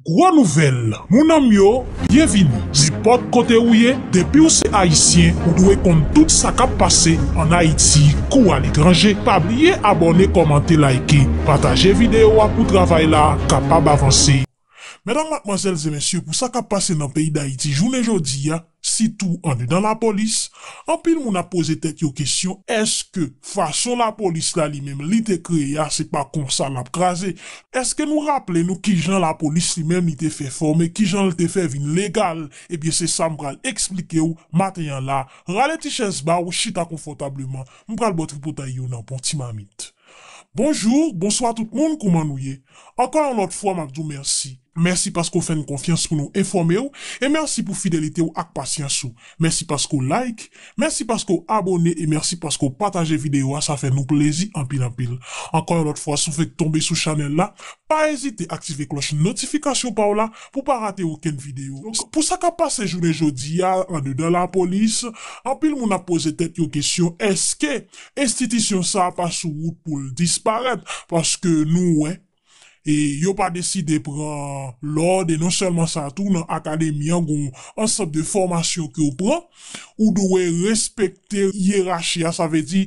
Gwo nouvèl mounanm yo byenvini nenpòt kote ou ye depiw se ayisyen ou dwe konn tout sa kap pase an ayiti kou aletranje pa bliye abòne kòmante layke pataje video a pou travay la kapab avanse. Medam matmwazèl e mesye pou sa kap pase nan peyi dayiti jounen jodi a. Sitou andedan lapolis, anpil moun ap poze tèt yo kesyon èske fason lapolis la li menm li te kreye a se pa konsa l ap kraze? Èske nou raple nou kijan lapolis li menm li te fè fòme, kijan l te fè vin legal? Ebyen se sa m pral eksplike w maten an la, rale ti chèz ba w, chita konfòtableman, m pral ba w tripotay yo nan bon ti mamit. Bonjou, bonswa tout moun, kouman nou ye? Ankò yon lòt fwa m ap di w mèsi. Mèsi paske w fè n konfyans pou nou enfòme w e mèsi pou fidelite w ak pasyans ou. Mèsi paske w like, mèsi paske w abone e mèsi paske w pataje videyo a sa fè nou plezi anpil anpil. Ankò yon lòt fwa si w fèk tonbe sou chanèl la, pa ezite aktive klòch notifikasyon pa w la pou w pa rate okenn videyo. Donk pou sa k ap pase jounen jodi a andedan lapolis, anpil moun ap poze tèt yo kesyon èske enstitisyon sa pa sou wout pou l disparèt paske nou wè e yo pa deside pran lòd e non sèlman sa tou nan akademi an gon ansanm de fòmasyon ke w pran ou dwe respekte yerachi a sa vle di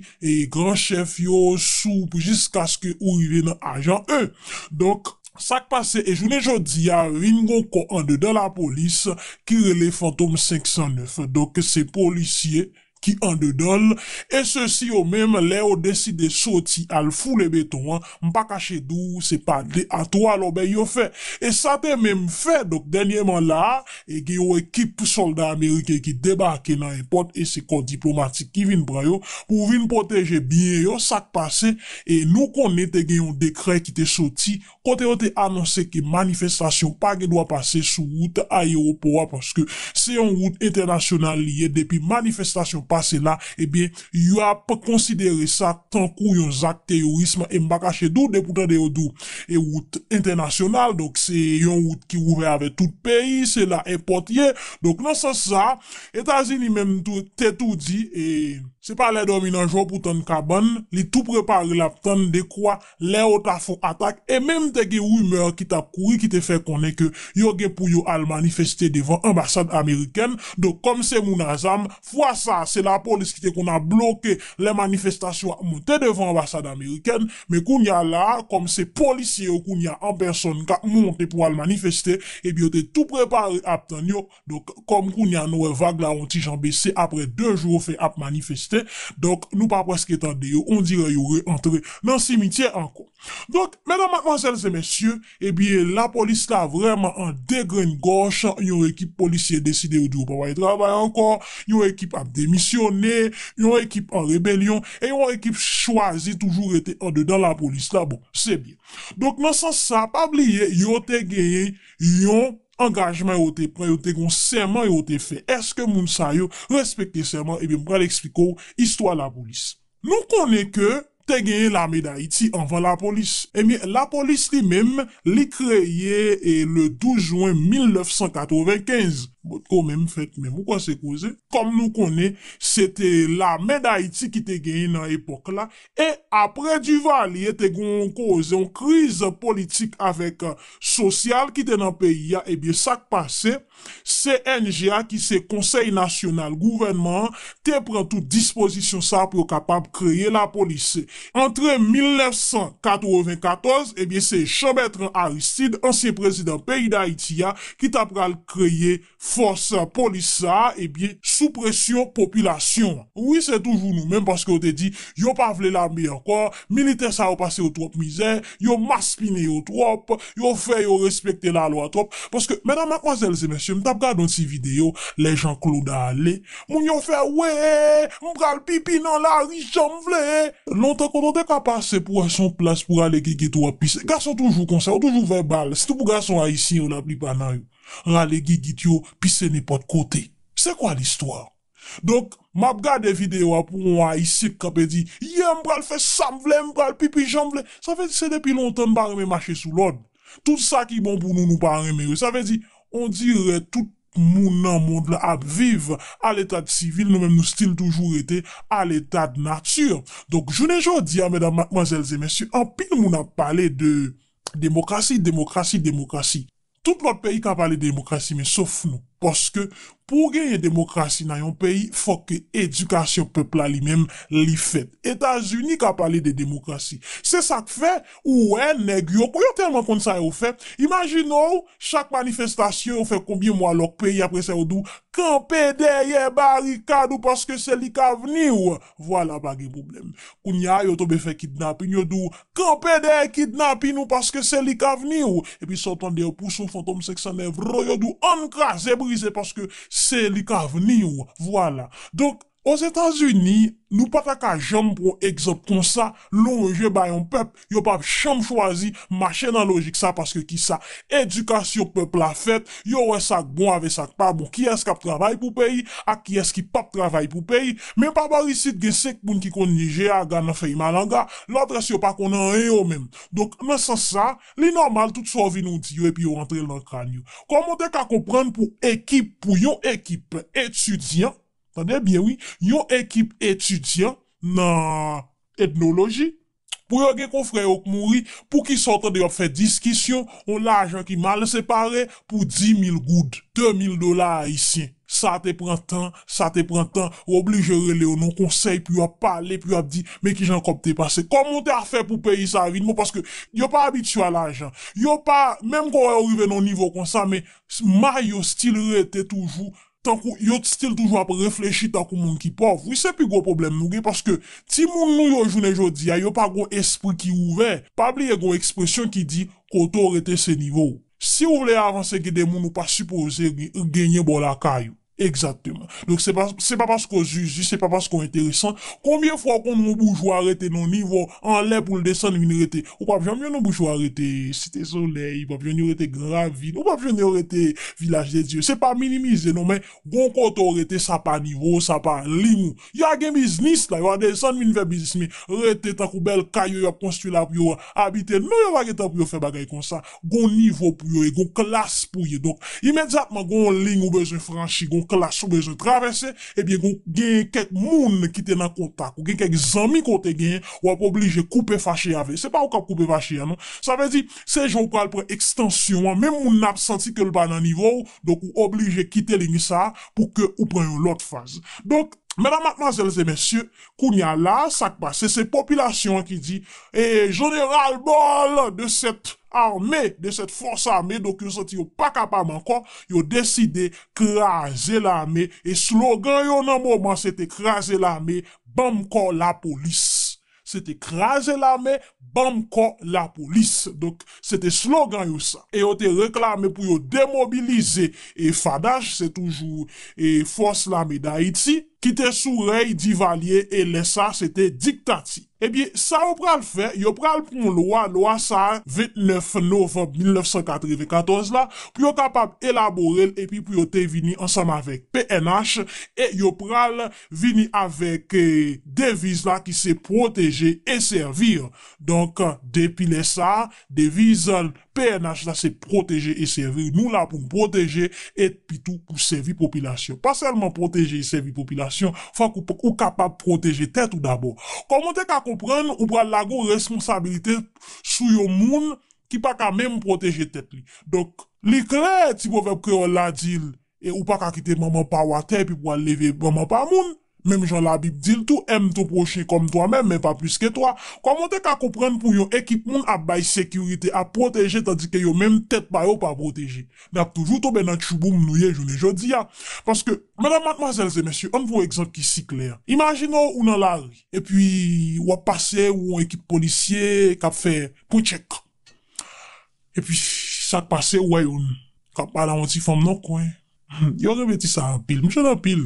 gran chèf yo sou jiskaske ou rive nan ajan e donk sa k pase e jounen jodi a vin gon kò andedan lapolis ki rele fantom 509 donk se polisye ki andedan l, e sesi yo menm lè yo deside soti al foule beton an, m pa kache di w se pa de a twa lòbèy yo fè. E sa te menm fè, donk dènyèman la a, e gen yon ekip sòlda ameriken ki debake nan èpòt e se kò diplomatik ki vin pran yo pou vin pwoteje byen yo, sa k pase, e nou konnen te gen yon dekrè ki te soti kote yo te anonse ke manifestasyon pa gen dwa pase sou wout ayewopò a paske se yon wout entènasyonal li ye depi manifestasyon pase la ebyen yap konsidere sa tankou yon zak teyorism e m pa kache di w depi w tande yo di w e wout entènasyonal donk se yon wout ki ouvè avè tout peyi se la èpòt ye donk nan sans sa Etazini menm tou te tou di e. Se pa lè dòmi nan jò pou tann kabann li tou prepare lap tann dekwa. lè yo ta fon atak e menm te gen rimè ki tap kouri ki te fè konnen ke yo gen pou yo al manifeste devan anbasad amerikèn, donk kòm se moun a zam, fwa sa se lapolis ki te konn ap bloke lè manifestasyon ap monte devan anbasad amerikèn, men kounya la kòm se polisye yo kounya an pèsòn kap monte pou al manifeste, ebyen yo te tou prepare ap tann yo. Donk kòm kounye a nou wè vag la yon ti jan bese aprè 2 jou yo fè ap manifeste, donk nou pa prèske tande yo, ondirè yo re antre nan simityè ankò. Donk medam matmwazèl se mesye, ebyen lapolis la vrèman an degrenngòch, yon ekip polisye deside yo di yo pa pral travay ankò, yon ekip ap demisyone, yon ekip an rebelyon e yon ekip chwazi toujou rete andedan lapolis la, bon se byen. Donk nan sans sa pa bliye yo te genyen yon. angajman yo te pran yo te gon sèman yo te fè eske moun sa yo respekte sèman ebyen m pral esplike w istwa lapolis nou konnen ke te genyen lame dayiti anvan lapolis ebyen lapolis li menm li kreye e le 12 jwen 1995 potko menm fèt menm ou kwè se koze kòm nou konnen se te lame dayiti ki te genyen nan epòk la E apre Duvalier te gen yon koze yon kriz politik avèk sosyal ki te nan peyi a ebyen sak pase cng a ki se konsèy nasyonal gouvènman an te pran tout dispozisyon sa pou yo kapab kreye lapolis antre 1994 ebyen se Jean Bertrand Aristide ansyen prezidan peyi dayiti a ki ta pral kreye fòs polis sa ebyen sou presyon popilasyon an wi se toujou nou menm paske yo te di yo pa vle lame ankò militè sa yo pase yo twòp mizè yo maspinen yo twòp yo fè yo respekte lalwa twòp paske medam matmwazèl se mesye m tap gade yon ti video lè Jean Claude ale moun yo fè wee m pral pipi nan lari janm vle lontan kote w te ka pase pou wè son plas pou ale gege twòp pis gason toujou konsa yo toujou vèbal sitou pou gason ayisyen yo laplipa nan yo. rale gigit yo pise nenpòt kote se kwa listwa donk map gade video a pou on ayisyen k kanpe di ye m pral fè sam vle m pral pipi janm vle sa vle di se depi lontan n pa renmen mache sou lòd tout sa ki bon pou nou nou pa renmen yo sa vle di on dirè tout moun nan mond lan ap viv aletad sivil nou menm nou stil toujou rete aletad nati donk jounen jodi a medam matmwazèl e mesye anpil moun ap pale de demokrasi demokrasi demokrasi. Tout lòt peyi ka pale de demokrasi men sof nou, paske pou w genyen demokrasi nan yon peyi fòk ke edikasyon pèp la li menm li fèt. Etazini ka pale de demokrasi. Se sa k fè ou wè nèg yo, yo tèlman konn sa yo fè, imajine w chak manifestasyon yo fè konbyen mwa lòk peyi apre sa yo di w kanpe dèyè barikad ou paske se li k avni w. Vwala pa gen pwoblèm. Kounye a yo tonbe fè kidnapin, yo di w, kanpe dèyè kidnapin ou paske se li k avni w. Epi sa w tande yo pouse w Fantom 509 roo, yo di w ann kraze brize paske se li k avni w. Vwala. Donk, Ozetazini, nou pa ta ka janm pran yon egzanp konsa lonje ba yon pèp Yo pap janm chwazi mache nan lojik sa paske kisa edikasyon pèp la fèt yo wè sak bon avè sak pa bon kiyès kap travay pou peyi ak kiyès ki pap travay pou peyi men pa bò isit gen 5 moun ki konn li je aga nan fèy malanga lòt rès yo pa konn anyen yo menm donk nan sans sa li nòmal tout sa w vin ou di yo epi yo antre l nan kràn yo kòman w te ka konprann pou ekip pou yon ekip etidyan tande byen wi yon ekip etidyan nan etnoloji Pou yo gen konfrè yo k mouri poukisa w tande yo ap fè diskisyon yon lajan ki mal separe pou di mil goud, de mil dola ayisyen. Sa te pran tan, sa te pran tan, yo oblije rele yo nan yon konsèy pou yo ap pale, pou yo ap di men kijan kòb te pase, kòman w te a fè pou peyi sa a vin bon paske yo pa abitye a lajan. Yo pa, menm ke w wè yo rive nan yon nivo konsa men may yo stil rete toujou tankou yo t stil toujou ap reflechi tankou moun ki pòv wi se pi gwo pwoblèm nou gen paske timoun nou yo jounen jodia yo pa gon espri ki ouvè pa bliye gon ekspresyon ki di kote w rete se nivo w siw vle avanse gen de moun ou pa sipoze genyen bò lakay ou egzakteman donk se pa se pa paske w zuzu se pa paske w enteresan konbyen fwa w konn won boujwa rete nan yon nivo anlè poul desann vin rete Ou pap janm jwenn yon bouch wa rete Site Solèy, ou pap jwenn yo rete Gran Ravin, ou pap jwenn yo rete Vilaj de Dye. Se pa minimize non men gon kote ou rete sa pa nivo w, sa pa ling ou. Yo a gen biznis la, yo a desann vin fè biznis men rete tankou bèl kay yo y ap konstwi la pou yo abite non yo pa gen tan pou yo fè bagay konsa. gon nivo pou yo e gon klas pou ye donk imedyatman gon yon liy ou bezwen franchi gon klas ou bezwen travèse ebyen gon gen kèk moun ki te nan kontak ou gen kèk zanmi ke w te genyen wap oblije koupe fache avè se pa ou kap koupe fache a non sa vle di se jan ou pral pran ekstansyon an menm moun nan ap santi ke l pa nan nivo w donk ou oblije kite liy sa pou ke ou pran yon lòt faz donk medam matmwazèl e mesye Kounya la a sak pase se popilasyon an ki di ee je ne ral bol de cette arme, de cette force armee donk yo santi yo pa kapab ankò yo deside kraze lame e slogan yo nan moman se te kraze lame banm kò lapolis. Se te kraze lame Banm kò lapolis. Donk, se te slogan yo sa. E yo te reklame pou yo demobilize FADH, se toujou Fòs Lame Dayiti, ki te sou rèy Divalye e lè sa se te diktati. Ebyen, sa yo pral fè, yo pral pran yon lwa, lwa sa 29 novanm 1994 la, pou yo kapab elabore l epi pou yo te vini ansanm avèk pnh e yo pral vini avèk deviz la ki se pwoteje e sèvir. Donk depi lè sa a, deviz pnh la se pwoteje e sèvir. Nou la pou n pwoteje e dpi tou pou sèvi popilasyon. Pa sèlman pwoteje e sèvi popilasyon, fòk ou kapab pwoteje tèt ou dabò. Kòm ou te ka konprann, ou pral lage yon responsabilite sou yon moun ki pa ka menm pwoteje tèt li. Donk li klè ti pwovèb kreyòl la di E ou pa ka kite manman pa ou atè epi pou al leve manman pa moun. Menm jan labib di l tou, aime ton prochain comme toi même, men pa plis ke twa. Kòman w te ka konprann pou yon ekip moun ap bay sekirite, ap pwoteje tandike yo menm tèt pa yo pa pwoteje? Nap toujou tonbe nan tchouboum nou ye jounen jodi a. Paske. Medam, matmwazèl e mesye, ann pran yon egzanp ki si klè. Imajine w ou nan lari, epi wap pase ou yon ekip polisye kap fè pwen tchèk. Epi sa k pase ou wè yo n k ap pale a yon ti fanm nan kwen yo renmen ti sa anpil m jwenn anpil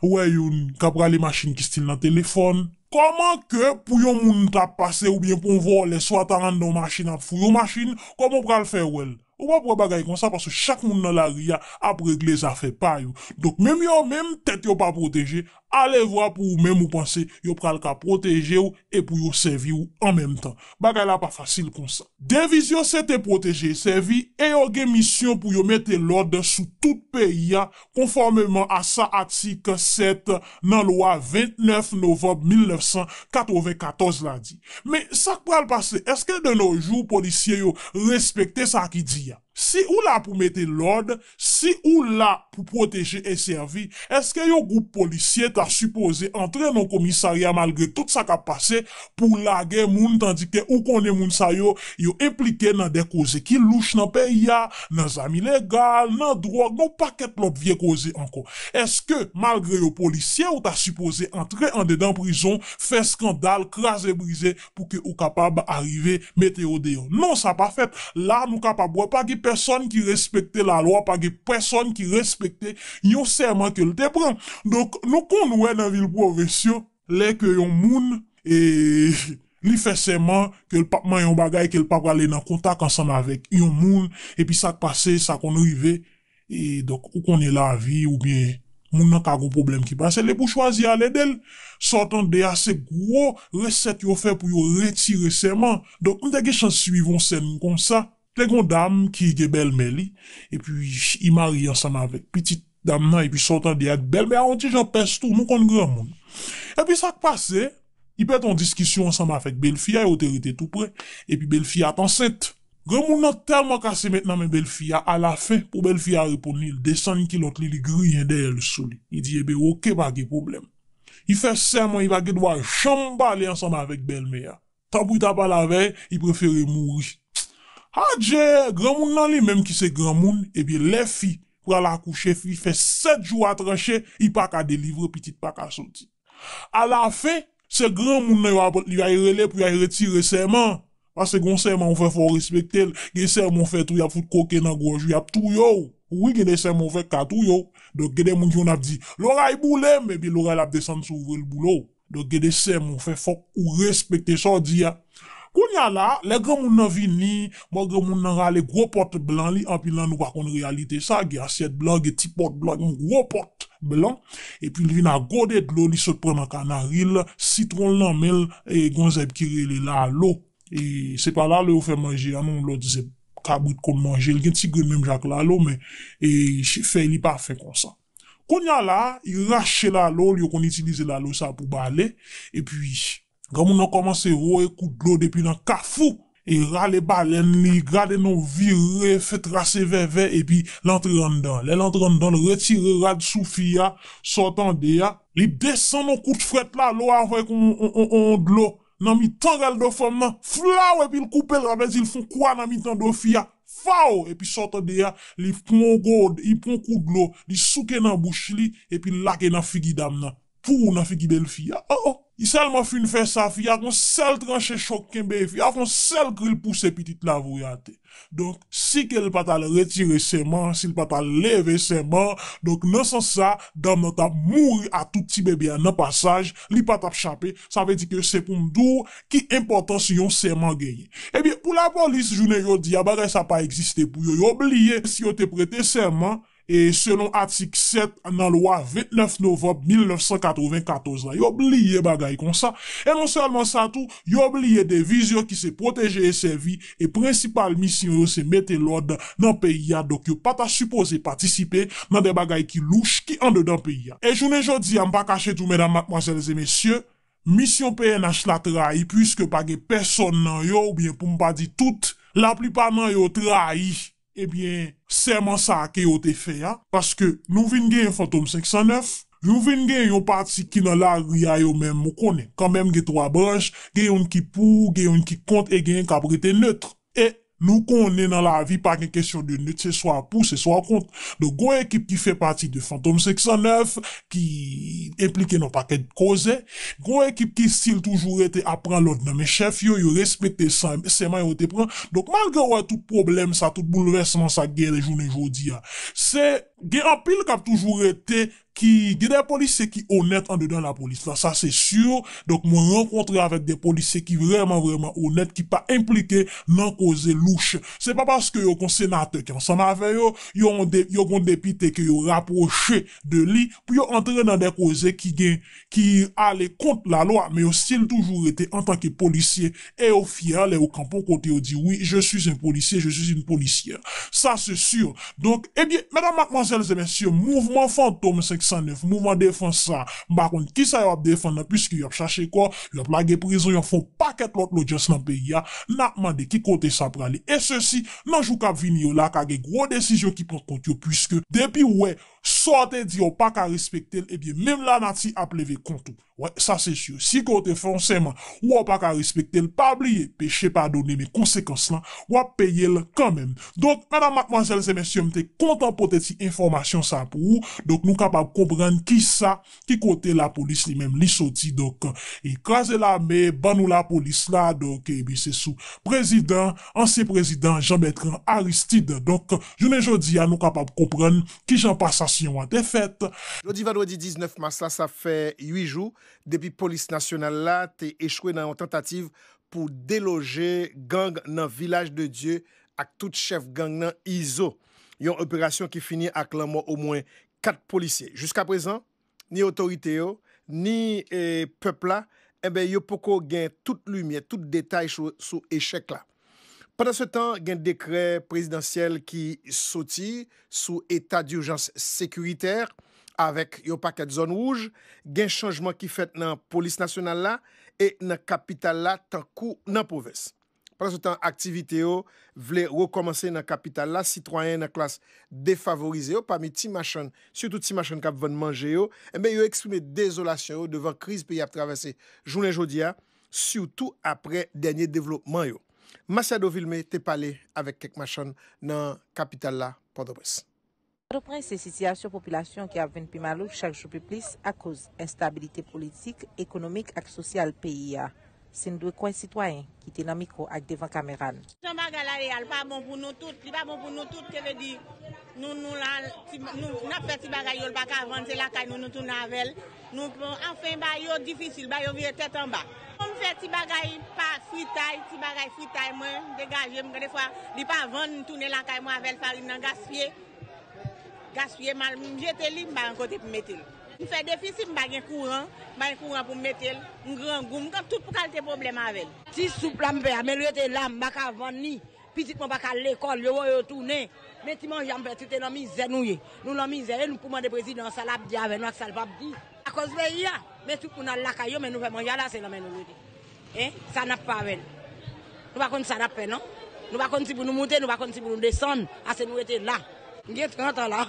ou wè yo n k ap rale machin ki stil nan telefòn. Kòman ke pou yon moun ta pase oubyen pou yon vòlè swa ta anndan yon machin ap fouye yon machin kòman ou pral fè wè l ou p ap wè bagay konsa paske chak moun nan lari a ap regle zafè pa yo donk menm yo menm tèt yo pa pwoteje Alevwa pou ou menm ou panse yo pral ka pwoteje w e pou yo sèvi w an menm tan. Bagay la pa fasil konsa. Deviz yo se te pwoteje e sèvi e yo gen misyon pou yo mete lòd sou tout peyi a konfòmeman a sa atik 7 nan lwa 29 novanb 1994 la di. Men sa k pral pase? Èske de no jou polisye yo respekte sa ki di a? Si ou la pou mete lòd, si ou la pou pwoteje e sèvi, èske yon gwoup polisye ta sipoze antre nan komisarya malgre tout sa k ap pase pou w lage moun tandi ke ou konnen moun sa yo, yo enplike nan de koze ki louch nan peyi a, nan zam ilegal, nan dwòg, nan yon pakèt lòt vye koze ankò. Èske, malgre yo polisye, ou ta sipoze antre andedan prizon, fè skandal, kraze brize, pou ke ou kapab arive mete yo deyò. Non sa pa fèt. La nou kapab wè pa gen pèsòn ki respekte la lwa, pa gen pèsòn ki respekte yon sèman ke l te pran. Donk nou konn wè nan vil pwovens yo, lè ke yon moun e li fè sèman ke l p ap manyen yon bagay, ke l p ap ale nan kontak ansanm avèk yon moun, epi sa k pase, sa konn rive, E donk ou konnen lavi oubyen moun nan ka gon pwoblèm ki pase l epi w chwazi al ede l. Sa w tande a se gwo resèt yo fè pou yo retire sèman. Donk m te gen chans suiv on sèn konsa. Te gen on dam ki gen bèlmè li epi i marye ansanm avèk pitit dam nan epi sa w tande a bèlmè a on ti jan pès tou, nou konn granmoun. Epi sa k pase, li pèt on diskisyon ansanm avèk belfi a, yo te rete tou pre, epi belfi a t ansent. Granmoun nan tèlman kase met nan men bèlfi a, alafen, pou bèlfi a reponn li, li desann kilòt li, li griyen dèyè l sou li. Li di, Eben, oke, pa gen pwoblèm. Li fè sèman li pa gen dwa janm pale ansanm avèk bèlmè a. Tanpri ta pale avè l, li prefere mouri. Adje! Granmoun nan li menm ki se granmoun, ebyen lè fi pral akouche, fi fè sèt jou a tranche, li pa ka delivre, pitit pa ka soti. Alafen, se granmoun nan yo ap yo al rele pou yo al retire sèman an. Paske gen yon sèman ou fè fò ou respekte l. Gen sèman ou fè tou y ap fout koke nan gòj ou, y ap touye w. Wi gen de sèman ou fè k ka touye w. Donk gen de moun ki konn ap di, loray boule m! Epi loray la ap desann sou ou vre l boule w. Donk gen de sèman ou fè fòk ou respekte sa w di a. Kounya la, lè granmoun nan vini, bon granmoun nan rale gwo pòt blan li, anpil nan nou pa konn reyalite sa, gen asyèt blan, gen ti pòt blan, gen yon gwo pòt blan, epi li vin ak gode dlo li sot pran nan kanari l, sitwon l nan men l, e gon zèb ki rele lalo, e se pa lalo yo fè manje a non, yon lòt zèb kabrit konn manje, li gen ti grenn menm jan ak lalo men e fèy li pa fen konsa. Kounya la, yo rache lalo l, yo konn itilize lalo sa pou bale, epi. Granmoun nan kòmanse voye kout dlo depi nan kafou e rale balèn li, gade nou vire, fè trase vèvè epi l antre anndan. Lè l antre anndan l retire rad sou fi a, sa w tande a, li desann on kout frèt la lò avèk on on dlo nan mitan rèl do fanm nan, flaw epi l koupe l sa vle di l fon kwa nan mitan do fi a, faw epi sa w tande a, li pran on gode, li pran on kout dlo, li souke nan bouch li epi l lage nan figi dam nan. Pou ou nan figi bel fi a oh. Li selman fin fè sa fi a ak yon sel tranche chok kenbe fi a ak yon sel kri li pouse pitit la voye atè donk si ke li pat al retire seman an si li pat al leve seman an donk nan sans sa dam nan tap mouri a tout ti bebe a nan pasaj li pa tap chape sa vle di ke se poum di w ki enpòtans yon seman genyen ebyen pou lapolis jounen jodi a bagay sa pa egziste pou yo yo bliye si yo te prete seman E selon atik 7 nan lwa 29 novanb 1994 la, yo bliye bagay konsa. E non sèlman sa tou, yo bliye deviz yo ki se pwoteje e sèvi, e prensipal misyon yo se mete lòd nan peyi a, donk yo pa ta sipoze patisipe nan de bagay ki louch ki andedan peyi a. E jounen jodi a, m pa kache tou medam, matmwazèl e mesye, misyon pnh la trayi puiske pa gen pèsòn nan yo, oubyen pou m pa di tout, laplipa nan yo trayi. Ebyen, sèman sa a ke yo te fè a, paske nou vin genyen Fantom 509, nou vin genyen yon pati ki nan lari a yo menm, ou konnen, kanmenm gen twa branch, gen youn ki pou, gen youn ki kont e genyen k ap rete neutre. E, nou konnen nan lavi pa gen kesyon de neutre, se swa pou, se swa kont. Donk gon ekip ki fè pati de Fantom 509, ki enplike nan pakèt koze, gwo ekip ki stil toujou rete ap pran lòd nan men chèf yo, yo respekte sèman yo te pran, donk malgre w wè tout pwoblèm sa, tout boulvèsman sa k genyen jounen jodi a, se gen anpil k ap toujou rete ki, gen de polisye ki onèt andedan lapolis la, sa se si, donk mwen rankontre avèk de polisye ki vrèman vrèman onèt, ki pa enplike nan koze louch, se pa paske yo gon senatè ki ansanm avè yo, yo gon depite ke yo rapwoche de li pou yo antre nan dè koze ki gen ki ale kont la lwa men yo stil toujou rete antanke polisye e yo fyè lè yo kanpe yon kote yo di wi je suis un policier je suis une policière sa se sur donk ebyen medam matmwazèl e mesye mouvman fantom 509 mouvman defans sa m pa konn kisa yo ap defann nan puiske yo ap chache kò yo ap lage prizon yo ap fè yon pakèt lòt lodyans nan peyi a nap mande ki kote sa prale e sesi Nan jou kap vini yo la ka gen gwo desizyon ki pran kont yo puiske depiw wè sa w te di a ou paka respekte l ebyen menm lanati ap leve kont ou wè sa se sur si ke w te fè yon sèman ou wè w paka respekte l pa bliye peche padone men konsekans lan wap peye l kanmenm donk medam matmwazèl se mesye m te kontan pote ti enfòmasyon sa pou ou donk nou kapab konprann kisa ki kote la police li menm li soti donk e kraze lame ban nou la police la donk e bi se sou prezidan ansyen prezidan Jean Bertrand Aristide donk jounen jodi a nou kapab konprann kijan pasasyon an te fèt. Jodi vandredi 19 mas la sa fè 8 jou depi polis nasyonal la te echwe nan yon tantativ pou deloje gang nan vilaj de Dye ak tout chèf gang nan Izo. Yon operasyon ki fini ak lanmò omwen 4 polisye. Jiska prezan, ni otorite yo, ni pèp la, enben yo poko gen tout limyè, tout detay sou echèk la. Pandansetan, gen dekrè prezidansyèl ki soti sou eta durjans sekiritè, avèk yon pakèt zòn wouj, gen chanjman ki fèt nan polis nasyonal la e nan kapital la tankou nan pwovens. Pandansetan aktivite yo vle rekòmanse nan kapital la, sitwayen nan klas defavorize yo, pami ti machann, sitou ti machann k ap vann manje yo, enben yo eksprime dezolasyon yo devan kriz peyi a ap travèse jounen jodi a, sitou aprè dènye devlopman yo. Masiado Vilmé te pale avèk kèk machann nan kapital la, Pòtoprens. Pòtoprens se sitiyasyon popilasyon ki ap vin pi malouk chak jou pi plis akoz enstabilite politik, ekonomik ak sosyal peyi a, si n dwe kwè sitwayen ki te nan mikwo ak devan kamera n. Jan bagay la ye a, l pa bon pou nou tout, li pa bon pou nou tout, se vle di nou nou la, n ap fè ti bagay yo l pa ka vann, se lakay nou nou tounen avè l. Nou pran anfen ba yo difisil ba yo vire tèt anba. Mwen fè ti bagay pa fritay ti bagay fritay mwen degajem gen defwa li pa vann m tounen lakay mwen avèl farin nan gaspiye gaspiye mal m jete li m pa gen kote pou m mete l. M fè defi si m pa gen kouran m pa gen kouran pou m mete l m grangou m gen tout kalte pwoblèm avèl. Ti soup la m fè a men l rete la m paka vann li. Pitit mwen paka al lekol yo wè yo tounen men ti manja m fè toute nan mizè nou ye nou nan mizè e nou pou mande prezidan an sa lap di avè nou ak sa l pap di akoz peyi a men tout moun al lakay yo men nou fè manje ala se nan men nou l rete e sa nap fè avè l nou pa konn sa nap fè non nou pa konn si pou nou moute nou pa konn si pou nou desann ase nou rete la m gen 30 an la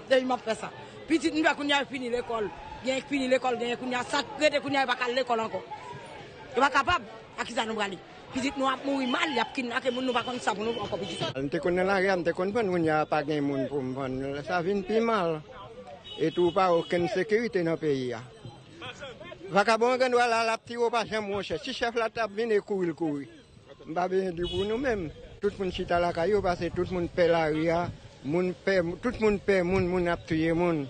depi map fè sa pitit m fè kounya yo fini lekol genyen k fini lekol genyen kounya sak rete kounya yo paka al lekol anko yo pa kapab ak kisa nou prale. Pitit nou ap mouri mal yap kidnape moun nou pa konn sa pou nou ankò pitit. Lè m te konn nan lari a m te konn vann kounye a pa gen moun pou m vann lè sa vin pi mal etou pa okenn sekirite nan peyi a vakabon an gen dwa la lap tire w pa janm wè w chèf si chèf la tap vini kouri l kouri m pa bezwen di pou nou menm tout moun chita lakay yo pase tout moun pè lari a moun pè tout moun pè moun moun ap touye moun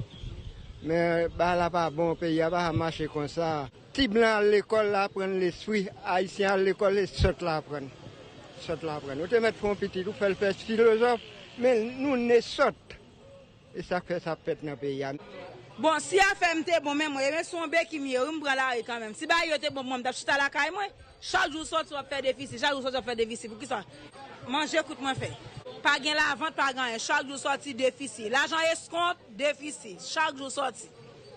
men bagay la pa bon peyi a pa ka mache konsa. Ti blan al lekòl la aprann lespri, ayisyen al lekòl e sòt la aprann. Sòt la aprann. Ou te mèt fè yon pitit ou fè l fè filozòf, men nou ne sòt. E sa k fè sa ap fèt nan peyi a. Bon si afè m te bon men mwen e men sou yon beki m ye wi m pran lari kanmenm si bagay yo te bon pou mwen m tap chita lakay mwen chak jou w sòti wap fè defisi chak jou w sòti wap fè defisi poukisa manje kout mwen fè pa gen lavant pa gen anyen chak jou w sòti defisi lajan eskont defisi chak jou w sòti.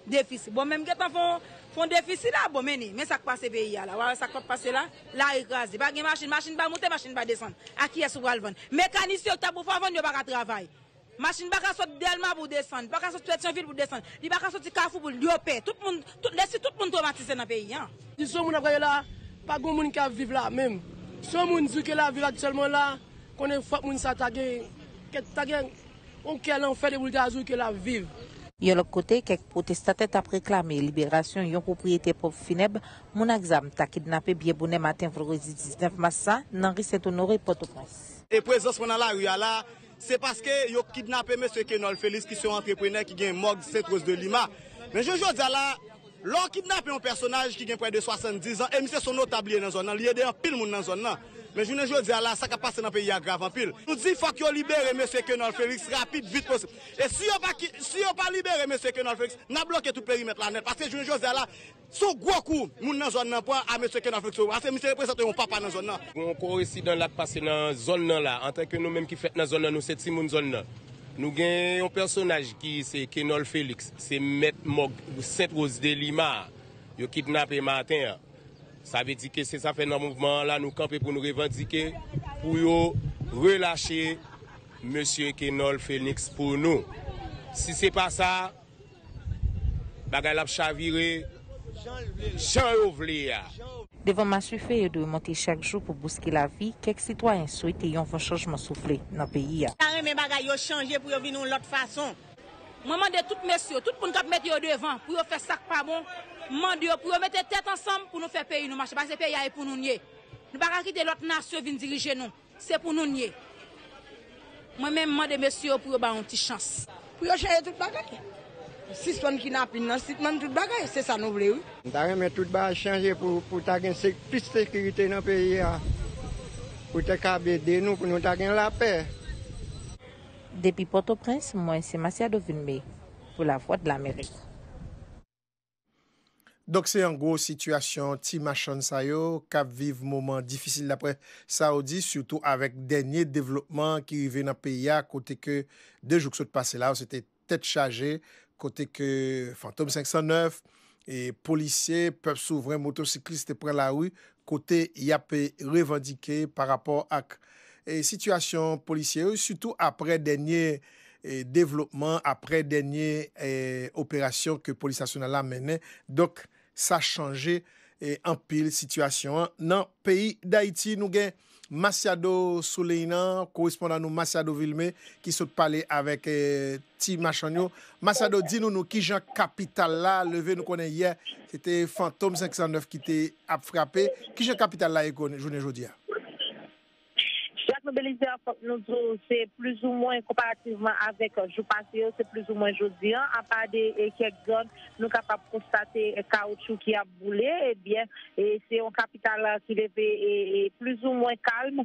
Defisi bon men m gentan fon fon defisi la bon meni men sak pase peyi a la wa wè sak pap pase la lari kraze pa gen machin machin pa moute machin pa desann a kiyès ou pral vann mekanis yo ki ta pou fè w vann yo paka travay machin paka sot dèlma pou desann paka sot petyonvil pou desann li paka soti kafou pou l yo pè tout moun tout lè si tout moun twomatize nan peyi an. Kondisyon moun ap gade la, pa gon moun ka viv la menm. Si yon moun di w ke la vil aktyèlman la, konnen fòk moun sa ta gen kèk ta gen. On kè lanfè depi l ta di w ke l ap viv. Yon lòt kote, kèk pwotestatè t ap reklame liberasyon yon pwopriyetè ponp finèb moun ak zam ta kidnape byen bonè maten vandredi 19 mas sa nan ri Sentonore, Pòtoprens. E prezans mwen nan lari a la a, se paske yo kidnape mesye Kenòl Felix ki se yon antreprenè ki gen mòg Sent Rose de Lima. Men jounen jodi a la a. Lè w kidnape yon pèsonaj ki gen prè de 70 zan e misye son notab li ye nan zòn nan, li ede anpil moun nan zòn nan. Men jounen jodi a la a sa k ap pase nan peyi a grav anpil. Nou di fòk yo libere mesye Kenòl Feliks rapid vit posib. E si yo pa ki, si yo pa libere mesye Kenòl Feliks, n ap bloke tout perimèt la nèt paske jounen jodi a la se yon gwo kou moun nan zòn nan pran a mesye Kenòl Feliks paske misye reprezante yon papa nan zòn nan. Gen yon korensidan la k pase nan zòn nan la. Antanke nou menm ki fèt nan zòn nan nou se timoun zòn nan. Nou gen yon pèsonaj ki se Kenol Felix, se mèt mòg Sent Roz de Lima a, yo kidnape maten an. Sa vle di ke se sa fè nan mouvman an la nou kanpe pou nou revandike pou yo relache mesye Kenol Felix pou nou. Si se pa sa. Bagay la ap chavire jan yo vle a. Devan masuife yo dwe monte chak jou pou bouske lavi, kèk sitwayen swete yon van chanjman soufle nan peyi a. Ta renmen bagay yo chanje pou yo vin yon lòt fason. Mwen mande tout mesye yo, tout moun k ap mete yo devan pou yo fè sa k pa bon, m mande yo pou yo mete tèt ansanm pou nou fè peyi nou mache paske peyi a e pou nou n ye. Nou pa ka kite lòt nasyon vin dirije nou. Se pou nou n ye. Mwen menm mande mesye yo pou yo ba yon ti chans. Pou yo chanje tout bagay. Sispann kinapin nan, sitmann tout bagay. Se sa nou vle wi. M ta renmen tout bagay chanje pou ta gen plis sekirite nan peyi a. Pou te kab ede nou pou nou ta gen lapè. Depi Pòtoprens, mwen se Masiado Vilmé pou Lavwadlamerik. Donk se an gwo sitiyasyon ti machann sa yo k ap viv moman difisil daprè sa yo di, sitou avèk dènye devlopman ki rive nan peyi a kote ke 2 jou k sot pase la yo se te tèt chaje kote ke Fantom 509, polisye, pèp souvren, motosiklis te pran lari kote y ap revandike pa rapò ak sitiyasyon polisye yo, sitou aprè dènye devlopman, aprè dènye operasyon ke Polis Nasyonal la mennen. Donk, sa chanje anpil sitiyasyon an nan peyi Dayiti. Nou gen Masiado sou liy nan, korespondan nou Masiado Vilme ki sot pale avèk ti machann yo. Masiado di nou nou kijan kapital la leve nou konnen yè se te fantom 509 ki te ap frape, kijan kapital la ye jounen jodi a? Jacques nou Belizaire fòk nou di w se plizoumwen konparativman avèk jou pase yo se plizoumwen jodi an apa de kèk zòn Nou kapab konstate kawotchou ki ap boule. Ebyen, se yon kapital ki leve plizoumwen kalm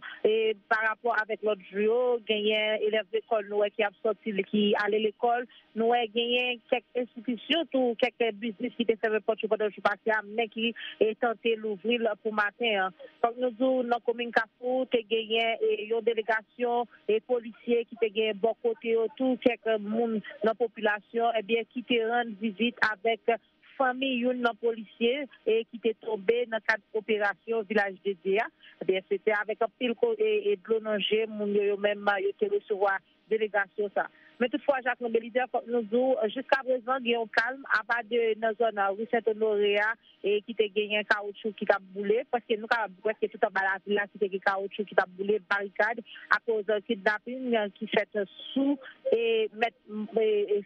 parapò avèk lòt jou yo. Genyen elèv lekòl nou wè ki ap sòti, ki ale lekòl. Nou wè genyen kèk enstitisyon tou, kèk biznis ki te fèmen pòt yo pandan jou pase a men ki tante louvri l pou maten an. Fòk nou di w nan komin Kafou te genyen yon delegasyon. e polisye ki te genyen bò kote yo tou kèk moun nan popilasyon ebyen ki te rann vizit avèk fanmi youn nan polisye e ki te tonbe nan kad operasyon Vilaj de Dye a ebyen se te avèk anpil e dlo nan je moun yo yo menm yo te resevwa delegasyon sa men tout fwa Jacquelin Belizaire fòk nou di w jiska prezan gen yon kalm apa de nan zòn Rue Saint Honoré a e ki te genyen kawoutchou ki t ap boule, pwèske nou kapab di pwèske tout anba lavil la ki te gen kawoutchou ki t ap boule, barikad, akoz kidnaping ki fèt sou e mèt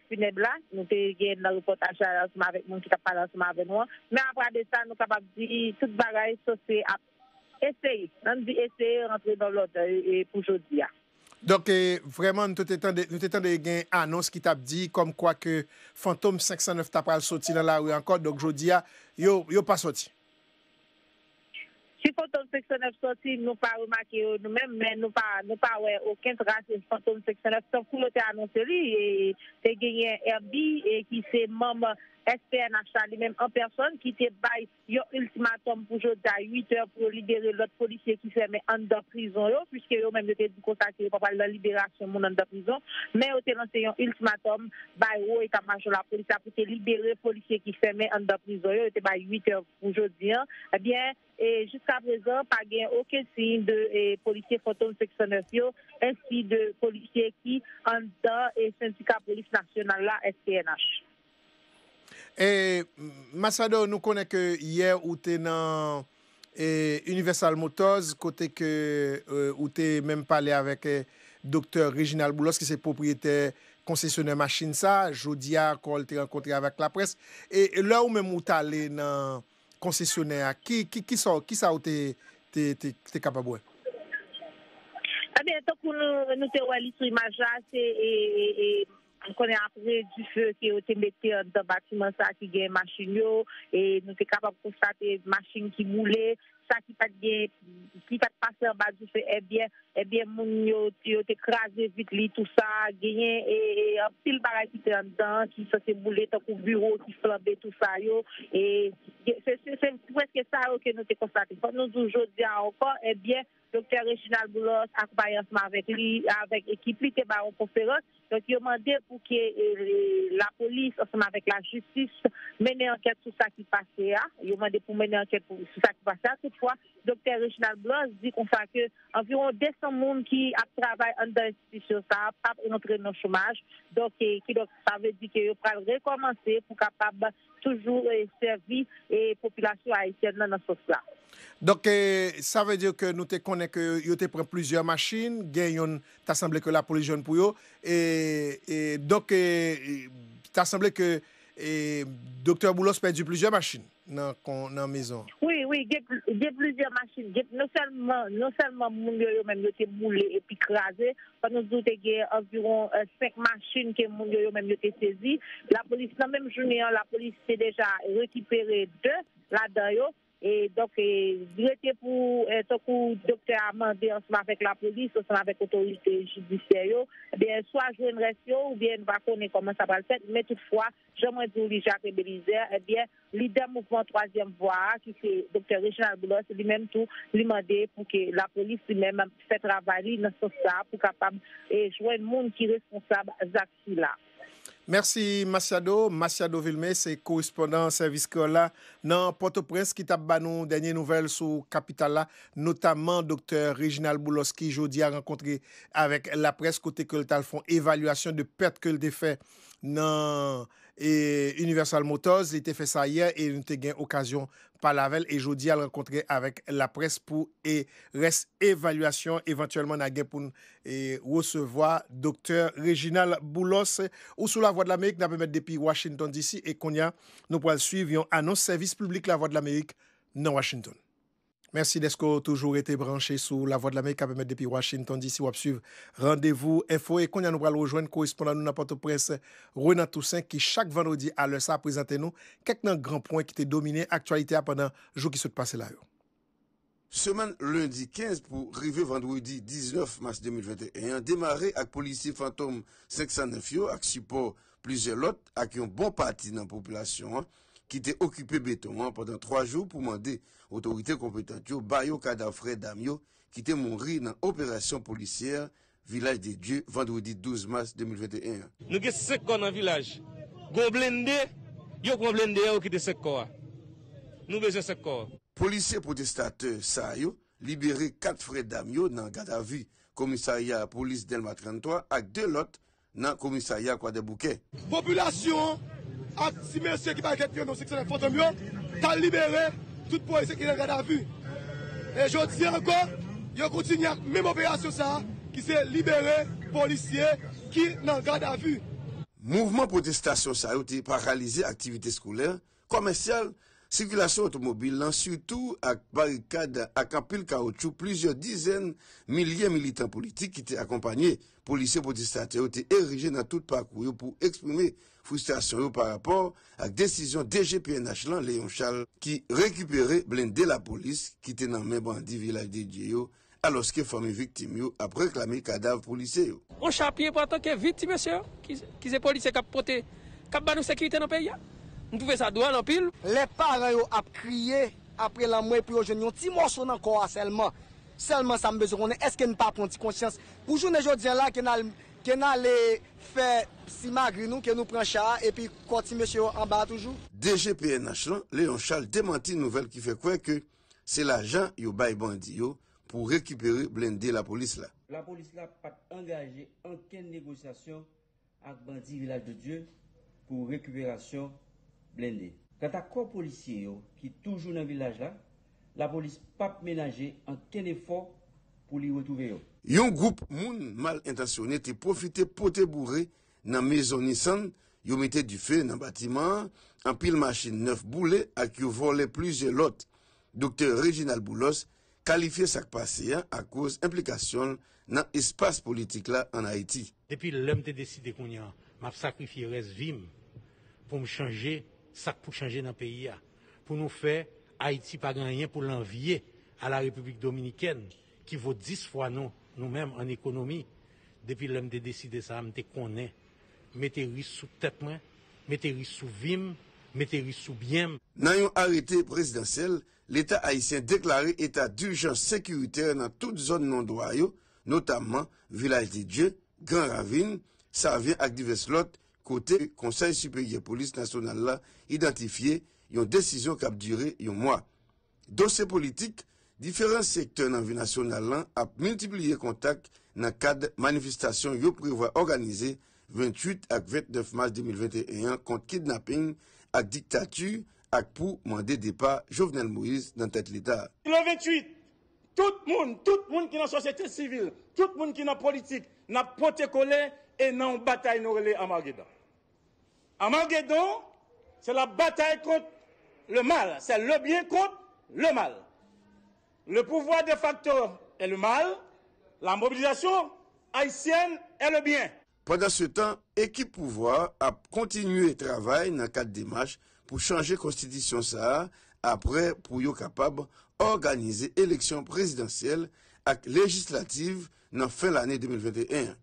funèb la, nou te gen nan repòtaj la ansanm avèk moun ki t ap pale ansanm avè nou an, men apradesa nou kapab di tout bagay sòsye ap. Eseye, an n di eseye rantre nan lòd pou jodi a. Donk, vrèman nou te tande, nou te tande gen anons ki t ap di kòm kwa ke Fantom 509 ta pral soti nan lari ankò, donk jodi a, yo, yo pa soti? Si Fantom 509 soti, nou pa remake yo nou menm, men nou pa, nou pa wè oken tras Fantom 509, tankou yo te anonse li, te genyen Herby ki se manm SPNH la li menm an pèsòn ki te bay Yon ultimatum pou jodi a 8 è pou yo libere lòt polisye ki fèmen anndan prizon yo, puiske yo menm yo te di konsa ke yo pa pral nan liberasyon moun anndan prizon, men yo te lanse yon ultimatum bay wo eta majò lapolis la pou te libere polisye ki fèmen anndan prizon yo, yo te bay 8 è pou jodi a, ebyen jiska prezan pa gen oken siy de polisye fantom 509 yo ensi de polisye ki anndan sendika polis nasyonal la, SPNH. Masado nou konnen ke yè ou te nan Universal Motors kote ke ou te menm pale avèk Doktè Reginald Boulos ki se pwopriyetè konsesyonè machin sa, jodi a ankò li te rankontre avèk laprès, lè ou menm ou t ale nan konsesyonè a kisa ou te kapab wè? Ebyen tankou nou te wè li sou imaj la se. M konnen apre dife ke yo te mete anndan batiman sa ki gen machin yo, e nou te kapab konstate machin ki boule, sa ki pat gen, ki pat pase anba dife ebyen, ebyen moun yo, yo te kraze vit li tou sa, genyen e anpil bagay ki te anndan an ki sanse boule tankou biwo ki flanbe tou sa yo, e se se prèske sa yo ke nou te konstate. Fòk nou di w jodi a ankò ebyen Doktè Reginald Boulos ak bay ansanm avèk li avèk ekip li te bay yon konferans, donk yo mande pou ke lapolis ansanm avèk lajistis mennen ankèt sou sa ki pase a, yo mande pou mennen ankèt sou sa ki pase a, toutfwa Doktè Reginald Boulos di konsa ke anviwon 200 moun ki ap travay anndan enstitisyon sa a pap rantre nan chomaj, donk kidonk. Sa vle di ke yo pral rekòmanse pou kapab toujou sèvi popilasyon ayisyèn nan nan sans la. Donk sa vle di ke nou te konnen ke yo te pran plizyè machin, gen youn ta sanble ke lapolis jwenn pou yo. Donk ta sanble ke Doktè Boulos pèdi plizyè machin. nan kon nan mezon. Wi, wi, gen gen plizyè machin, gen non sèlman non sèlman moun yo yo menm yo te boule epi kraze, fò nou di w te gen anviwon 5 machin ke moun yo yo menm yo te sezi. Lapolis nan menm jounen an lapolis te deja rekipere 2 ladan yo e donk e li rete pou tankou doktè a mande ansanm avèk lapolis ansanm avèk otorite jidisyè yo ebyen swa jwenn rès yo oubyen nou pa konnen kòman sa pral fèt men tout fwa Jan mwen di w li Jacques Belizaire, ebyen lidè mouvman twazyèm vwa a ki se Doktè Reginald Boulos li menm tou li mande pou ke lapolis li menm fè travay li nan sans sa pou kapab jwenn moun ki responsab zak sila. Mèsi Masiado. Masiado Vilmé se korespondan Sèvis Kreyòl la nan Pòtoprens ki t ap ba nou dènye nouvèl sou kapital la, notamman Doktè Reginald Boulos ki jodi a rankontre avèk laprès kote ke l t al fon evalyasyon de pèt ke l te fè nan Universal Motors, li te fè sa yè e nou te gen okazyon pale avè l e jodi a l rankontre avèk laprès pou rès evalyasyon evantyèlman na gen pou n resevwa Doktè Reginald Boulos. Ou sou Lavwadlamerik nap emèt depi Washington DC e kounye a nou pral swiv yon anons sèvis piblik Lavwadlamerik nan Washington. Mèsi dèske w toujou rete branche sou Lavwadlamerik kap emet depi Washington DC. Wap swiv Randevou Enfo e kounya nou pral rejwenn korespondan nou nan Pòtoprens, Renan Toussaint ki chak vandredi a lè sa a prezante nou kèk nan gran pwen ki te domine aktyalite a pandan jou ki sot pase la yo. Semèn lendi 15 pou rive vandredi 19 mas 2021 an demare ak polisye Fantom 509 yo ak sipò plizyè lòt ak yon bon pati nan popilasyon an ki te okipe beton an pandan 3 jou pou mande otorite konpetant yo ba yo kadav frè dam yo ki te mouri nan operasyon polisyè Vilaj de Dye vandredi 12 mas 2021 an. Nou gen 5 kò nan vilaj. Gon blende, yo pran blende a yo kite 5 kò a. Nou bezwen 5 kò. Polisye pwotestatè sa yo libere 4 frè dam yo nan gadavi komisarya polis Dèlma 33 ak 2 lòt nan komisarya Kwadèboukè. Popilasyon an ak ti mesye ki bay kèk vyann nan seksyonè Fantom yo t al libere tout polisye ki nan gadavi. E jodi an ankò, yo kontinye ak menm operasyon sa a ki se libere polisye ki nan gadavi. Mouvman pwotestasyon sa yo te paralize aktivite skolè kòmèsyal, sikilasyon otomobil lan sitou ak barikad ak anpil kawotchou plizyè dizèn milye militan politik ki te akonpanye polisye pwotestatè yo te erije nan tout pakou yo pou eksprime fristrasyon yo pa rapò ak desizyon DG pnh lan Léon Charles ki rekipere blende lapolis ki te nan men bandi Vilaj de Dye yo alòske fanmi viktim yo ap reklame kadav polisye yo. Yon chapye pou antanke vit ti mesye yo ki se polisye kap pote kap ba nou sekirite nan peyi a m twouve sa dwòl anpil. Lè paran yo ap kriye apre lanmò pou yo jwenn yon ti mòso nan kò a sèlman, sèlman sa m bezwen konnen èske n pa pran ti konsyans pou jounen jodi an la ke n al ke n ale fè simagri nou ke nou pran cha a epi kò ti mesye yo anba a toujou? DG pnh lan, Léon Charles demanti nouvèl ki fè kwè ke Se lajan yo bay bandi yo pou rekipere blende lapolis la. Lapolis la pa t angaje ankenn negosyasyon ak bandi Vilaj de Dye pou rekiperasyon blende. Kanta kò polisye yo ki toujou nan vilaj la, lapolis p ap menaje ankenn efò pou li retwouve yo. Yon gwoup moun mal entansyone te pwofite pote boure Nan mezon Nissan, yo mete dife nan batiman an, anpil machin nèf boule ak yo vòlè plizyè lòt. Doktè Reginald Boulos kalifye sa k pase a akoz enplikasyon l nan espas politik la ann Ayiti. Depi lè m te deside kounye an, m ap sakrifye rès vi m pou m chanje sa k pou chanje nan peyi a, pou nou fè Ayiti pa gen anyen pou l anvye a la Repiblik Dominikèn ki vo 10 fwa nou, nou menm an ekonomi, depi lè m te deside sa, m te konnen, mete risk sou tèt mwen, mete risk sou vi m, mete risk sou byen m. Nan yon arete prezidansyèl, Leta ayisyen deklare eta dijans sekiritè nan tout zòn non dwa yo, notamman Vilaj de Dye, Gran Ravin, Savyen ak divès lòt kote Konsèy Siperyè Polis Nasyonal la idantifye yon desizyon k ap dire yon mwa. Dosye politik, Diferan sektè nan vi nasyonal lan ap miltipliye kontak nan kad manifestasyon yo prevwa òganize 28 ak 29 mas 2021 an kont kidnaping ak diktati ak pou mande depa Jovenel Moïse nan tèt leta. Plan 28, Tout moun, tout moun ki nan sosyete sivil, tout moun ki nan politik, n ap pote kole e nan yon batay nou rele Armageddon. Armagedon se la batay kont le mal, se le byen kont le mal. Le pouvwa de fakto e le mal, la mobilizasyon ayisyèn e le byen. Pandansetan, ekip pouvwa a ap kontinye travay nan kad demach pou chanje konstitisyon sa a apre pou yo kapab òganize eleksyon prezidansyèl ak lejislativ nan fen lane 2021 an.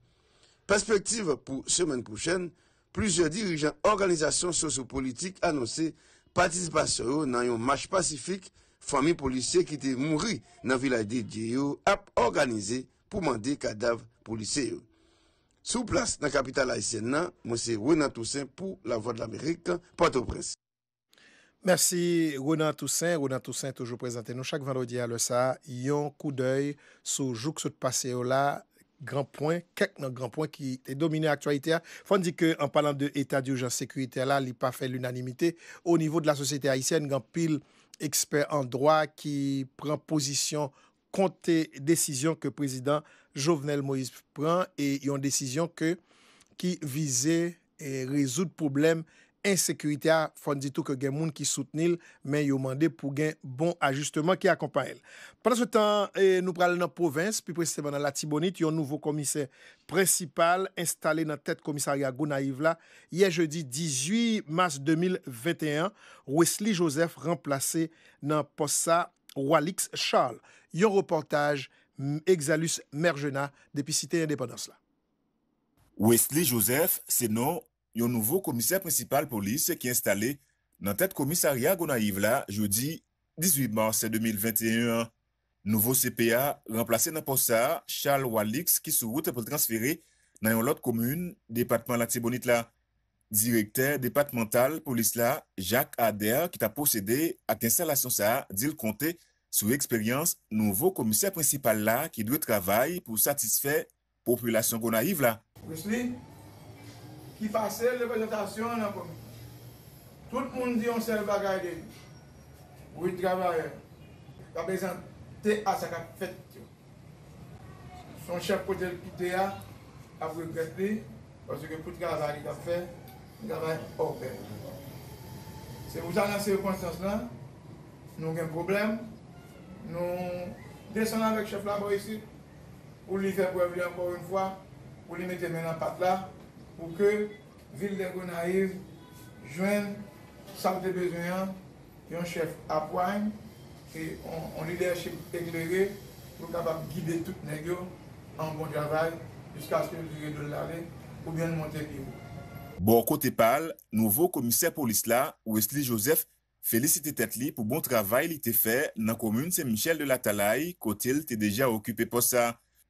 Pèspektiv pou semèn pwochèn, Plizyè dirijan òganizasyon sosyopolitik anonse patisipasyon yo nan yon mach pasifik fanmi polisye ki te mouri nan Vilaj Dedye yo ap òganize pou mande kadav polisye yo. Sou plas nan kapital ayisyèn nan, mwen se Renan Toussaint pou Lavwadlamerik, Pòtoprens. Mèsi Ronan Toussaint, Ronan Toussaint toujou prezante nou chak vandredi a lè sa a yon koudèy sou jou k sot pase yo la, gran pwen, kèk nan gran pwen ki te domine aktyalite a. Fò n di ke an palan de eta durjans sekiritè la li pa fè linanimite onivo de la sosyete ayisyèn, gen anpil ekspè an dwa ki pran pozisyon kont desizyon ke prezidan Jovenel Moïse pran e yon desizyon ke ki vize rezoud pwoblèm ensekirite a, fòn di tou ke gen moun ki soutni l men yo mande pou gen bon ajisteman ki akonpaye l. Pandan se tan an nou pral nan pwovens, pi presizeman nan Latibonit, yon nouvo komisè prensipal enstale nan tèt komisarya Gonayiv la yè jedi 18 mas 2021 an, Wesly Joseph ranplase nan pòs sa Walix Charles, yon repòtaj M. Exalus Mergenat depi Site Endepandans la. Wesly Joseph se non yon nouvo komisè prensipal polis ki enstale nan tèt komisarya Gonayiv la jodi 18 mas 2021 an. Nouvo CP a ranplase nan pòs sa Charles Walix ki sou wout pou l transfere nan yon lòt komin depatman Latibonit la. Direktè depatmantal polis la, Jacques Ader ki ta pwosede ak enstalasyon sa di l konte sou eksperyans nouvo komisè prensipal la ki dwe travay pou satisfè popilasyon Gonayiv la. Wisly, ki pase reprezantasyon an nan komin. Tout moun di yon sèl bagay de li, Wid travayè, pa bezan te a sa k ap fèt yo. Son chèf kote l kite a ap regrèt li paske pou travay li t ap fè se travay ògèy. Se pou sa nan sikonstans lan nou gen pwoblèm nou desann avèk chèf la bò isit pou li fè prèv li ankò yon fwa pou li mete men nan pat la pou ke vil de Gonayiv jwenn sa l te bezwen an Yon chèf apwine e yon lidèchip eklere pou l kapab gide tout nèg yo an bon travay jiskaske l vire do l ale oubyen l monte pi wo. Bò kote pa l, nouvo komisè polis la, Wesly Joseph, felisite tèt li pou bon travay li te fè nan komin Sen Michèl de Latalay kote l te deja okipe pòs sa.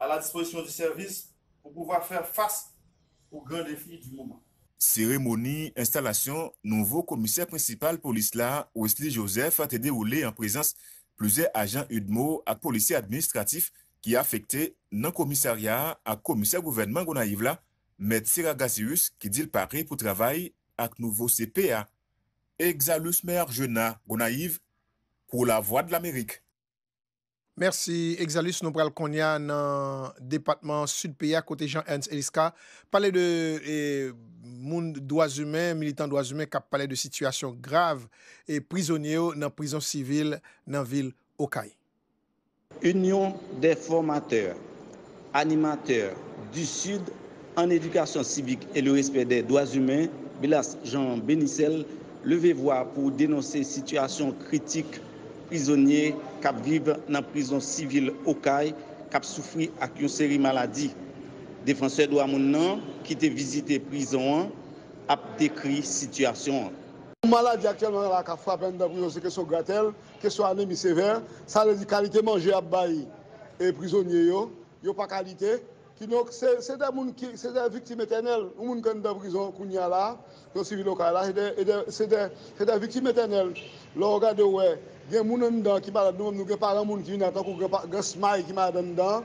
a la dispozisyon di sèvis pou pouvwa fè fas o gran defi di moman. Seremoni enstalasyon nouvo komisè prensipal polis la, Wesly Joseph te dewoule an prezans plizyè ajan udmo ak polisye administratif ki afekte nan komisarya a ak komisè gouvènman Gonayiv la, Mèt Sera Gasius ki di l pare pou travay ak nouvo CP a. Exalus Meargena, Gonayiv, pou Lavwadlamerik. Mèsi Exalus, nou pral kounye a nan depatman Sid peyi a kote Jean Ernst Eliscar pale de moun dwa zimen, militan dwa zimen kap pale de sitiyasyon grav prizonye yo nan prizon sivil nan vil Okay. Union des formateurs Animateur du sud en éducation civique et le respect des droits humains, Bilas Jean Benicel, leve vwa pou denonse sitiyasyon kritik prizonye k ap viv nan prizon sivil Okay k ap soufri ak yon seri maladi. Defansè dwa moun nan, ki te vizite prizon an, ap dekri sitiyasyon an. Yon maladi aktyèlman la k ap frape anndan prizon se kesyon gratèl. Kesyon anemi sevè, sa vle di kalite manje y ap bay prizonye yo, yo pa ka lite. Kidonk, se de moun ki, se de viktim etènèl. Yon moun ki anndan prizon kounye a la a, nan Sivil Okay la, se de, se de viktim etènèl. Lè w gade w wè, gen moun anndan ki malad, nou menm nou gen paran moun ki vin la, tankou gran Smaï ki malad anndan,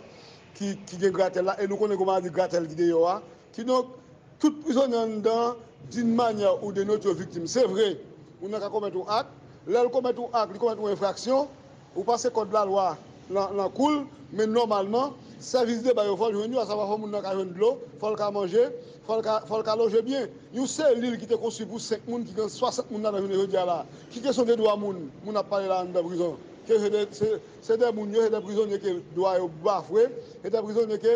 ki gen gratèl la, e nou konnen kou maladi gratèl ki deyò a. Kidonk, tout prizonye anndan an, din manyè ou de nòt yo viktim. Se vre, moun nan ka komèt yon ak, lè l komèt yon ak, li komèt yon enfraksyon, ou pase kòd lalwa nan kou l, men nòmalman, sèvis deba yo fò l jwenn yo, asavwa fò moun nan ka jwenn dlo, fò l ka manje, fò l ka loje byen. Yon selil ki te konstwi pou 5 moun ki gen 60 moun ladan jounen jodi a la a. Ki kesyon de dwa moun, moun ap pale la anndan prizon? Ke se de moun yo, se de prizonye ke dwa yo bafwe, se de prizonye ke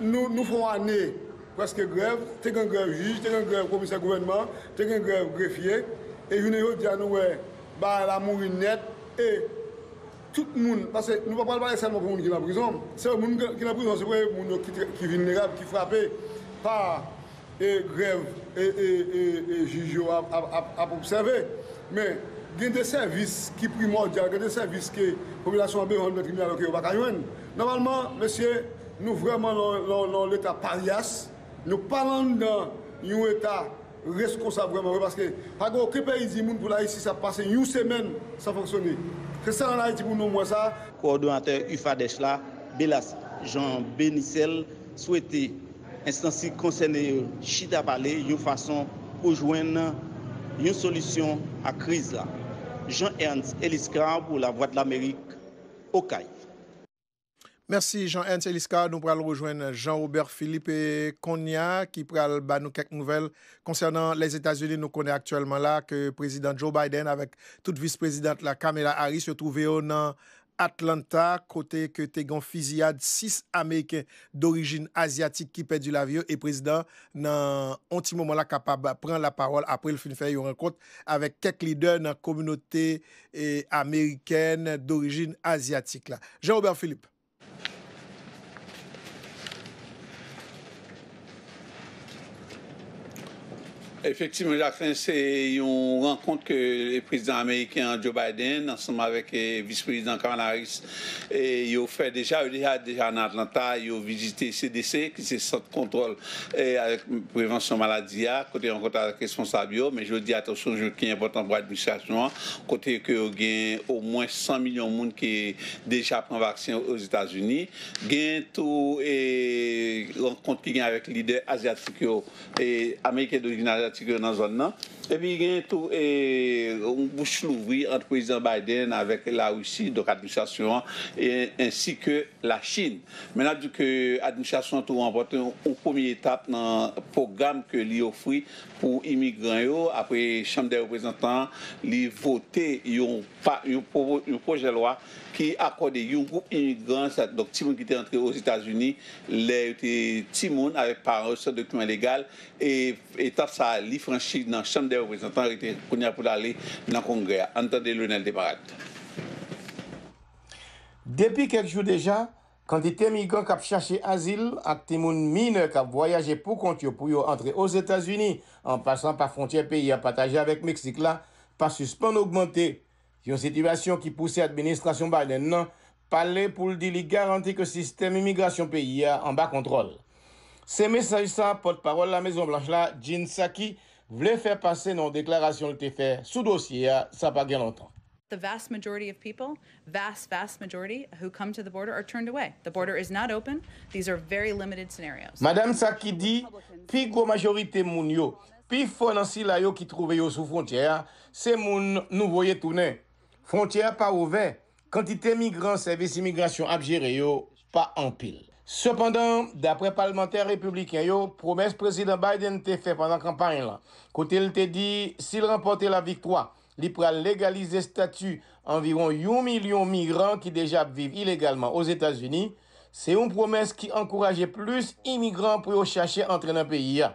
Nou fè yon ane prèske grèv, te gen grèv jij, te gen grèv komisè gouvènman, te gen grèv grefye, e jounen jodi a nou wè bagay la mouri nèt e tout moun, pase nou pa pral pale sèlman pou moun ki nan prizon, se moun ki nan prizon se premye moun yo ki vilnerab, ki frape pa E grèv e jij yo ap obsève. Men, gen de sèvis ki primòdyal, gen de sèvis ke popilasyon an bezwen nan tribinal yo ke yo pa ka jwenn. Nòmalman, mesye, nou vrèman lan yon leta paryas, nou pa lan anndan yon eta reskonsab vrèman vre paske pa gen oken peyi di moun pou l Ayiti sa pase yon semèn san fonksyone. Se sèl an Ayiti pou nou wè sa. Kowòdonatè UFADEH la, Belas Jean Benicel, swete Enstans ki konsène yo chita pale yon fason pou jwenn yon solisyon ak kriz la. Jean Ernst Eliscar pou Lavwadlamerik, Okay. Mèsi Jean Ernst Eliscar, nou pral rejwenn Jean Robert Philippe konnya ki pral ba nou kèk nouvèl konsènan Lèzetazini, nou konnen aktyèlman la ke Prezidan Joe Biden avèk tout Vis Prezidant la Kamala Harris yo twouve yo nan Atlanta, kote ke te gen yon fiziyad 6 Ameriken dorijin Azyatik ki pèdi lavi yo e prezidan nan yon ti moman la kapab pran lapawòl apre l fin fè yon rankont avèk kèk lidè nan kominote Amerikèn dorijin Azyatik la. Jean Robert Philippe. Efektivman Jacqueline, se yon rankont ke Prezidan Ameriken an Joe Biden ansanm avèk Vis Prezidan Kamala Harris yo fè deja. Yo deja deja nan Atlanta, yo vizite CDC ki se Sant Kontwòl avèk Prevansyon Maladi a, kote yo rankont avèk responsab yo. Men jodi a tou se yon jou ki enpòtan pou administrasyon an, kote ke yo gen omwen 100 milyon moun ki deja pran vaksen Ozetazini. Gen tou rankont ki gen avèk lidè azyatik yo, ameriken dorijin azyatik yo nan zòn nan. Epi gen tou yon bouch louvri ant Prezidan Biden avèk Larisi, donk administrasyon an, ansi ke Lachin. Men n ap di ke administrasyon an tou ranpòte yon premye etap nan pwogram ke li ofri pou imigran yo apre Chanm dè Reprezantan an li vote yon pwojè lwa ki akòde yon gwoup imigran, sa donk timoun ki te antre Ozetazini lè yo te timoun avèk paran yo san dokiman legal, e etap sa a li franchi nan Chanm dè Reprezantan rete kounye a pou l ale nan Kongrè a. Ann tande Lonel Desmarats. Depi kèk jou deja, kantite migran k ap chache azil ak timoun minè k ap vwayaje pou kont yo pou yo antre Ozetazini an pasan pa fwontyè peyi a pataje avèk Meksik la pa sispann ogmante Yon sitiyasyon ki pouse administrasyon Biden nan pale pou l di li garanti ke sistèm imigrasyon peyi a anba kontwòl. Se mesaj sa pòtpawòl La Mezon Blanch la, Jen Psaki, vle fè pase nan yon deklarasyon l te fè sou dosye a sa pa gen lontan. The vast majority of people, vast, vast majority, who come to the border are turned away. The border is not open. These are very limited scenarios. Madam Psaki di, Pi gwo majorite moun yo, Pi fò nan sila yo ki twouve yo sou fwontyè a se moun nou voye tounen. Fwontyè a pa ouvè, kantite migran sèvis imigrasyon ap jere yo pa anpil. Sepandan, daprè palmantè repibliken yo, pwomès Prezidan Biden te fè pandan kanpay la, kote l te di si l ranpòte laviktwa, li pral legalize stati anviwon yon milyon migran ki deja ap viv ilegalman Ozetazini, se yon pwomès ki ankouraje plis imigran pou yo chache antre nan peyi a.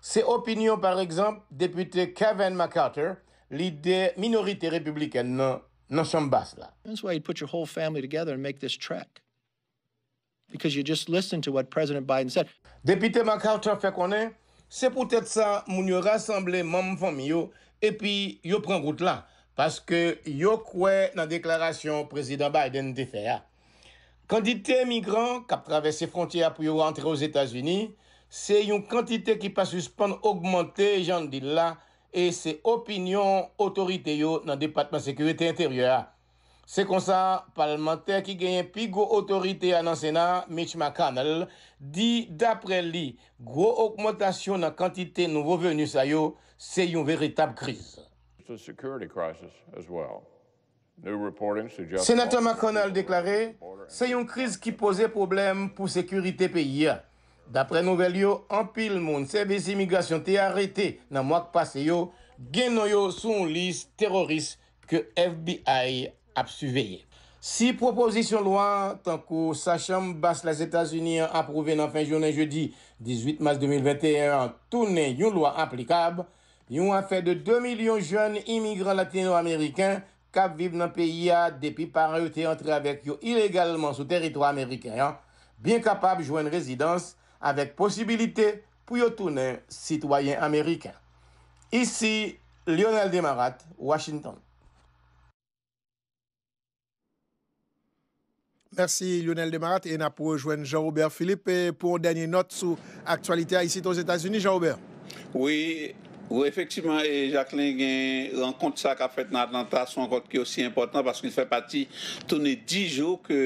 Se opinyon, paregzanp, Depite Kevin McCarter, lidè minorite repiblikèn nan nan Chanm Bas la. That's why you put your whole family together and make this trek. Because you just listen to what President Biden said. Depite McCarter fè konnen, Se poutèt sa moun yo rasanble manm fanmi yo epi yo pran wout la, paske yo kwè nan deklarasyon Prezidan Biden te fè a. Kantite migran k ap travèse fwontyè a pou yo antre Ozetazini se yon kantite ki pa sispann ogmante, jan n di l la, e se opinyon otorite yo nan Depatman Sekirite Enteryè a. Se konsa, palmantè ki genyen pi gwo otorite a nan Sena a, Mitch McConnell, di dapre li, gwo ogmantasyon nan kantite nouvo veni sa yo se yon veritab kriz. Senatè McConnell deklare se yon kriz ki poze pwoblèm pou sekirite peyi a. Daprè nouvèl yo, anpil moun sèvis imigrasyon te arete nan mwa k pase yo gen non yo sou yon lis teroris ke FBI ap siveye. Si pwopozisyon lwa tankou sa chanm bas Lèzetazini an apwouve nan fen jounen jedi 18 mas 2021 an tounen yon lwa aplikab, Yon afè de 2 milyon jèn imigran latino-ameriken k ap viv nan peyi a depi paran yo te antre avèk yo ilegalman sou teritwa ameriken an byen kapab jwenn rezidans avèk posibilite pou yo tounen sitwayen ameriken. Isi Lyonel Desmarattes, Washington. Mèsi Lyonel Desmarattes e n ap rejwenn Jean Robert Philippe pou yon dènye nòt sou aktyalite a isit Ozetazini Jean Robert. Wi efektiman Jacqueline gen rankont sa kap fèt nan Atlanta son rankont ki osi enpòtan paske li fè pati toune 10 jou ke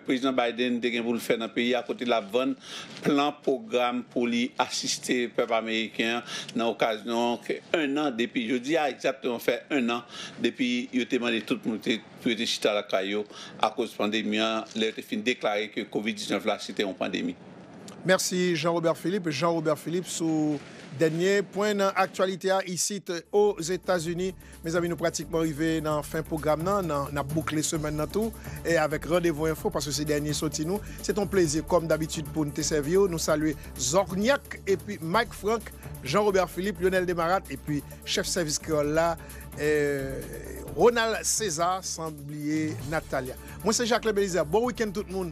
Prezidan Biden te gen pou l fè nan peyi a kote lap vann plan pwogram pou li asiste pèp ameriken an nan okazyon ke 1 an depi jodi a egzatteman fè 1 an depi yo te mande tout moun te pou yo te chita lakay yo akoz pandemi an lè yo te fin deklare ke Covid 19 la se te yon pandemi. Mèsi Jean Robert Philippe Jean Robert Philippe sou dènye pwen nan aktyalite a isit Ozetazini. Mezanmi nou pratikman rive nan fen pwogram nan, n ap boukle semèn nan tou avèk Randevou Enfo paske se dènye soti nou. Se te yon plezi kòm dabitid pou n te sèvi w. Nou salye Zòknyak epi Mike Frank, Jean Robert Philippe, Lyonel Desmarattes epi chèf sèvis kreyòl la, Ronald Cesar san bliye Nathalia. Mwen se Jacques le Belizaire bon week-end tout moun.